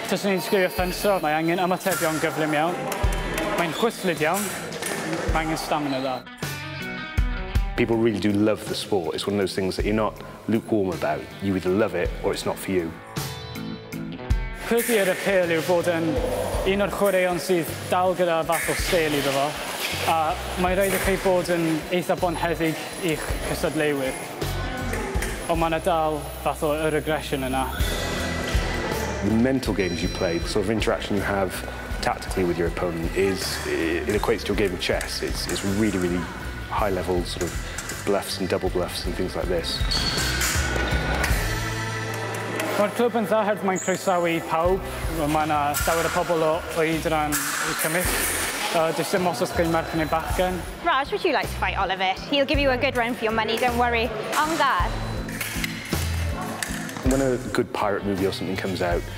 Taswn i'n sgwrio ffensro, mae angen ymatebion gyflym iawn. Mae'n chwythlyd iawn. Mae angen stamina dda. People really do love the sport. It's one of those things that you're not lukewarm about. You either love it or it's not for you. Pwrpas yr apêl yw bod yn un o'r chwaraeon sydd dal gyda fath o sêl iddo fo, a mae'n rhaid i chi bod yn eitha' bonheddig i'ch cystadleuwyr. Ond mae 'na dal fath o yr aggression yna. The mental games you play, the sort of interaction you have tactically with your opponent is, it equates to a game of chess, it's really, really high level sort of bluffs and double bluffs and things like this. Mae'r clwb yn dda herd mae'n croesawu pawb. Mae yna llawer o pobl o oed ran y cymell. Uh, does dim os oes gen merch neu bachgen. Raj, would you like to fight Oliver? He'll give you a good run for your money, don't worry. Am gar. When a good pirate movie or something comes out,